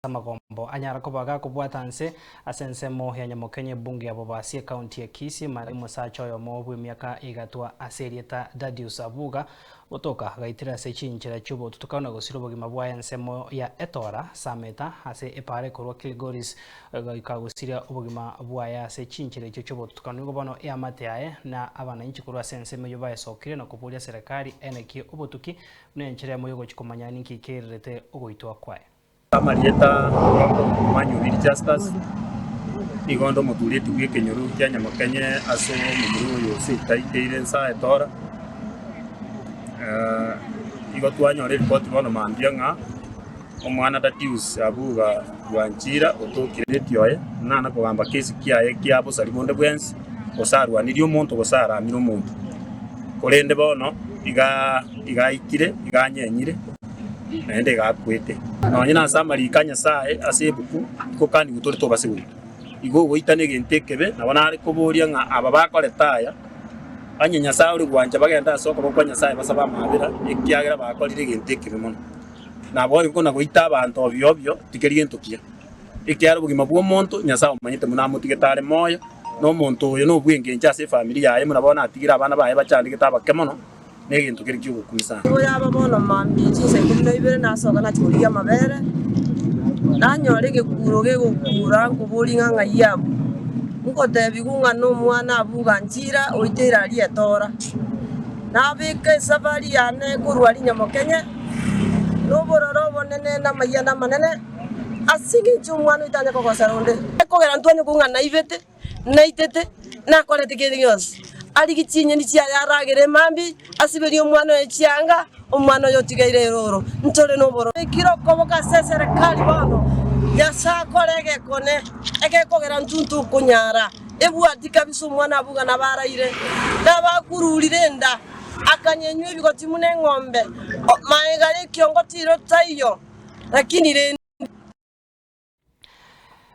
amagombo anyara koba gakobwata nse ase ensemo ya nyamokenye ebunge ya Bobasi ekaunti ya Kisii mari omosacha oyomo bw'emiaka eigatwa ase erieta Dadius Abuga gotoka gaitire ase chinchera chi'obotutuku na gosira obogima bwaye ensemo ya Etora Sameta ase epaara ekorwa Kilgoris goika gosiria obogima bwaye ase chinchera echio chi'obotutukanu igo bono eamate yaye na abananchi korwa ase ensemo eyio baesokire na koboria serekari aye naki obotuki buna enchera yamo yogochia komanya ninki keirirete ogoitwa kwaye. Amarieta, Omonto omwanyoriri Justus, nigo onde omotuureti bw'ekenyoro kia Nyamokenye ase omomura oyo ose etaikeire ensa etora. Eh, Igo twanyora eripoti bono mambia ng'a omwana Datius Abuga Bwanchira otokire Leti oye, ng'a nakogamba kesi kiaye kia bosari bonde bwensi, gose arwanirie omonto gose aramire omonto. Korende bono iga iga aikire, iga anyenyire. naende egakwete. Nonye nase amariiko a Nyasae ase ebuku tikokanigwe tore tobasibore. Igo ogoitana egento ekebe nabo nare koboria ng'a aba bakorete aya, onye Nyasae ore gwancha bagende ase okoboko kwa Nyasae basabe amaabera, ekiagera bakorire egento ekebe mono. Naboigo buna goita abanto obi obio tikeri gento kiya. Ekiagera obogima bw'omonto Nyasae omanyete buna amotigete are moyo, na omonto oyo nobw'engencho ase efamiri yaye buna bono atigire abana baye bachandegete abake mono, negento kere ki'ogokuisana. Nigo yaba bono mambia chinsa ikomi na ibere nasoka nachia korigia amabere, nanyora egekuuro gegokuura, nkoboria ng'a ng'ai abwo? Nkotebiwu ng'a nomwana abuga nchira oite ira aria etora. Nabeka esafari yane korwa Rinyamokenye nobororo obonene na amayiani amanene, as'engencho omwana oyo tanyare kogosera onde. Ekogera ntwanyokwa ng'a naibete. naitete, nakorete kende gionsi. Arigie chinyeni chiaye aragere emambi, asiberie omwana oye chianga, omwana oye otigaire erooro. Ntore nobororo. Naikire okoboka ase eserekari bono, Nyasae akore egekone, egekogera intwe ntokonyara. Ebwati kabisa omwana abwo buna nabaraire, nabakururire enda, akanyenywa ebigoti buna eng'ombe, magega y'ekiongo tiro taiyo, lakini rende.